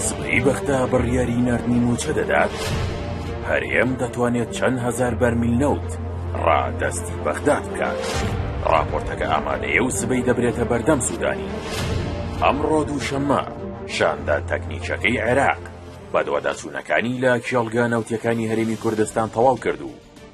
سبەی بەغدا بڕیاری ناردنی مووچە دەدات هەرێم دەتوانێت چەند هەزار بەرمیل نەوت ڕادەستی بەغدا بکات ڕاپۆرتەکە ئامادەیە و سبەی دەبرێتە بەردەم سوودانی ئەمڕۆ دووشەممە شاندا تەکنیکەکەی عێراق بەدواداچوونەکانی لە کێڵگە نەوتەکانی هەرێمی کوردستان تەواو کرد و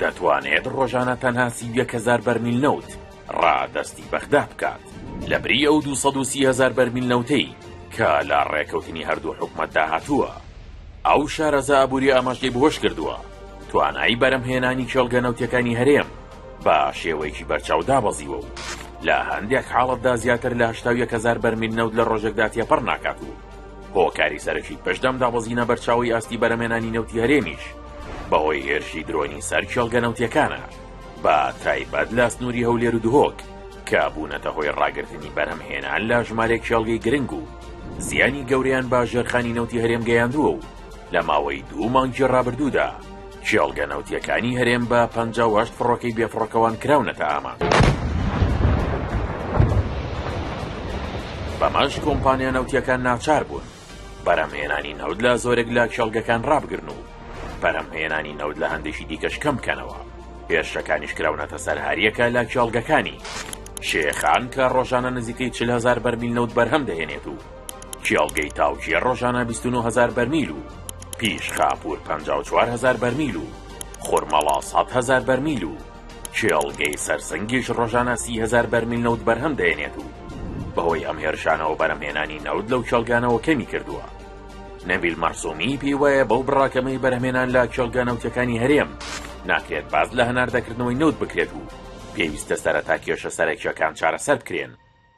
دەتوانێت ڕۆژانە تەنها سی و یەک هەزار بەرمیل نەوت ڕادەستی بەغدا بکات، لەبری ئەو دوو سەد و سی هەزار بەرمیل نەوتەی کە لە ڕێکەوتنی هەردوو حکومەتدا هاتووە. ئەو شارەزا ئابوورییە ئەمەش لێبهۆش کردووە، توانایی بەرهەمهێنانی کێڵگە نەوتییەکانی هەرێم بە شێوەیەکی بەرچاو دابەزیوە و لە هەندێک حاڵەتدا زیاتر لە هەشتا و یەک هەزار بەرمیل نەوت لە ڕۆژێکدا تێپەڕ ناکات و هۆکاری سەرەکی پشدەم دابەزینە بەرچاوی ئاستی بەرەمێنانی نەوتی هەرێمیش بەهۆی هێرشی درۆنی سەر کێڵگە نەوتیەکانە بە تایبەت لە سنووری هەولێر و دهۆک کە بوونەتە هۆی ڕاگررتنی بەرهەم هێنان لە ژمارێک کێڵگەی گرنگ و زیانی گەوریان بە ژێرخانی نەوتی هەرێم گەیاندووە و لە ماوەی دوو مانگی ڕابردوودا کێڵگە نەوتیەکانی هەرێم بە پ فڕۆکەی بێفڕۆکەوان کراونەتە ئامانج. بەمەش کۆمپانیا نەوتیەکان ناچار بوون بەرەمهێنانی نەوت لە زۆرێک لە کێڵگەکان ڕابگرن و بەرەمهێنانی نەوت لە هەندێکی دیکەش کەم بکەنەوە. هێرشەکانیش کراونەتە سەر هەریەکە لە کێڵگەکانی شێخان کە ڕۆژانە نزیکەی چل هەزار بەرمیل نەوت بەرهەم دەهێنێت و کێڵگەی تاوکێ ڕۆژانە بیست و نۆ هەزار بەرمیل و پیش خاپوور پەنجا و چوار هەزار بەرمیل و خورمەڵا سەد هەزار بەرمیل و کێڵگەی سەرسنگیش ڕۆژانە سی هەزار بەرمیل نەوت بەرهەم دەێنێت و بەهۆی ئەم هێرشانەوە بەرەمهێنانی نەوت لەو کێڵگانەوە کەمی کردووە. نەبیل مەرسومی پێی وایە بەو بڕە کەمەی بەرهەمێنان لە کێڵگە نەوتیەکانی هەرێم ناکرێت باس لە هەناردەکردنەوەی نەوت بکرێت و پێویستە سەرەتا کێشە سەرەکیەکان چارەسەر بکرێن.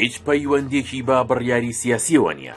هیچ پەیوەندیەکی بە بڕیاری سیاسیەوە نیە.